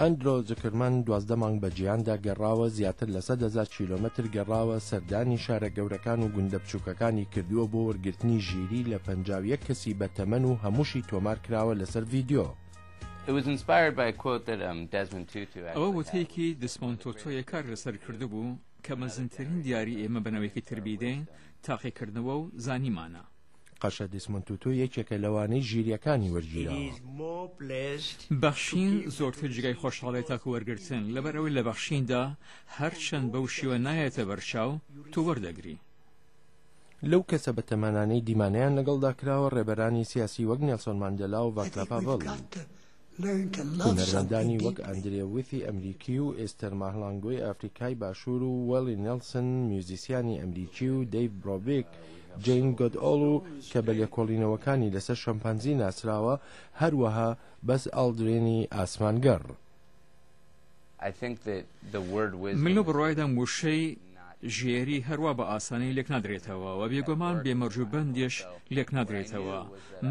ئەندرۆ زکرمەن دوازدە مانگ بە جیاندا گەڕاوە زیاتر لە سە دەزار کیلومتر گەڕاوە سەردانی شارە گەورەکان و گوندە بچووکەکانی کردووە بۆ وەرگرتنی ژیری لە پەنج یەک کەسی بە تەمەن و هەمووشی تۆمار کراوە لەسەر ڤیددیو. ئەوە وتەیەکی دسمۆن تۆتۆیە کار لەسەر کردبوو کە مەزنترین دیاری ئێمە بەنەوەیەکی تر بیدەین تاقیکردنەوە و زانیمانە. قەشە دیسمۆند توتو یەکێکە لەوانەی ژیرییەکانی وەرگیراوە. بەخشین زۆرتر جێگای خۆشحاڵیە تاکو وەرگرتن، لەبەرئەوەی لە بەخشیندا هەرچەند بەو شێوە نایەتە بەرچاو، تۆ وەردەگری. لەو کەسە بەتەمانانەی دیمانەیان لەگەڵدا کراوە، ڕێبەرانی سیاسی وەک نێلسۆن ماندێلا و ڤاسلاڤ هاڤڵ. هونەرمەندانی وەک ئەندرێ ویثی ئەمریکی و ئێستەر ماهلانگۆی ئەفریکای باشوور و وەلی نێلسن میوزیسیانی ئەمریکی و دەیڤ برۆڤیک جین گۆدئۆڵ و کە بە لێکۆڵینەوەکانی لەسەر شەمپانزی ناسراوە هەروەها بەز ئاڵدرینی ئاسمانگەڕ من لەو بڕوایەدام وشەی ژێری هەروا بە ئاسانی لێک نادرێتەوە و بێگۆمان بێ مەرج و بەندێش لێک نادرێتەوە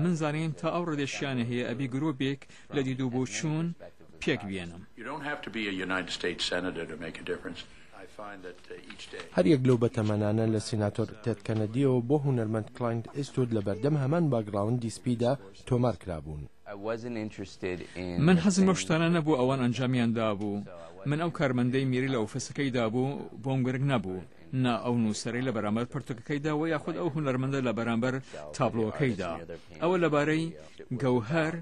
من زانیم تا ئەو ڕێدێشیانە هەیە ئەبی گرۆبێک لە دید و بۆچوون پێک بێنم. هەر یەک لەو بەتەمەنانە لە سیناتۆر تێد کەنەدیەوە بۆ هونەرمەند کلاینت ئیستود لە بەردەم هەمان باکگراوندی سپیدا تۆمار کرابوون. من حەزم بەو شتانە نەبوو ئەوان ئەنجامیان دابوو من ئەو کارمەندەی میری لە ئۆفسەکەی دابوو بۆم گرنگ نەبوو نا ئەو نووسەرەی لە بەرامبەر پرتوکەکەیدا و یاخود ئەو هونەرمەندە لە بەرامبەر تابلۆکەیدا ئەوە لەبارەی گەوهەر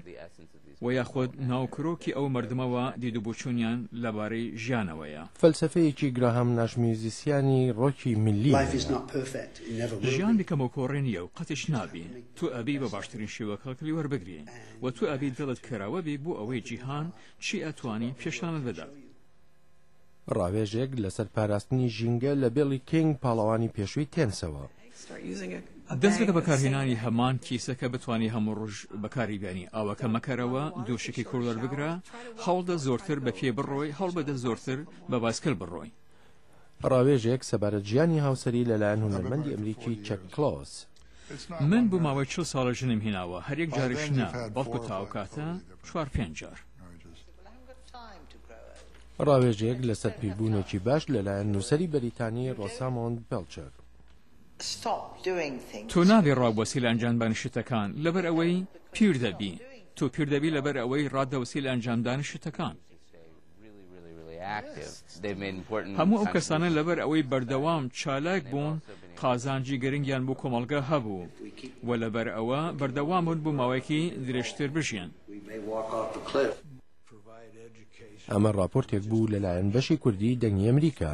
و یاخود ناوکرۆکی ئەو مردمەوە دیدوبچوونیان لەبارەی ژیانەوەیە. فەلسەفەیەکی گراهام ناش میوزیسیانی ڕۆکی میللی هەیە. ژیان بکەمۆکۆڕێ نییە و قەتیش نابی. تۆ ئەبی بە باشترین شێوە کەڵکلی وەربگری و تۆ ئەبی دڵت کەراوە بی بۆ ئەوەی جیهان چی ئەتوانی پێشانت بدات. ڕاوێژێک لەسەر پاراستنی ژینگە لە بێڵی کینگ پاڵەوانی پێشووی تێنسەوە. دەست بکە بەکارهێنانی هەمان کیسە کە بتوانی هەموو ڕۆژ بەکاری بێنی ئاوەکە مەکەرەوە دوو شکی کوڵەر بگرە هەوڵدە زۆرتر بە پێ بڕۆی هەڵبدە زۆرتر بە باسکل بڕۆی ڕاوێژێک سەبارەت ژیانی هاوسەری لەلایەن هونەرمەندی ئەمریکی چەک کلۆس. من بۆ ماوەی چل ساڵە ژنم هێناوە هەر یەک جارش نا بەڵکو تاوکاتە چوار پێنج جار ڕاوێژێک لەسەر پیربوونێکی باش لەلایەن نووسەری بەریتانی ڕۆسامۆند بێڵچەر تۆ نابێ ڕاوبەسی لە ئەنجامدانی شتەکان لەبەر ئەوەی پیر دەبی تۆ پیر دەبی لەبەر ئەوەی ڕادەوسی لە ئەنجامدانی شتەکان هەموو ئەو کەسانە لەبەر ئەوەی بەردەوام چالاک بوون قازانجی گرنگیان بۆ کۆمەڵگە هەبوو و لەبەر ئەوە بەردەوام بوون بۆ ماوەیەکی درێژتر بژیان. ئەمە ڕاپۆرتێک بوو لەلایەن بەشی کوردی دەنگی ئەمریکا.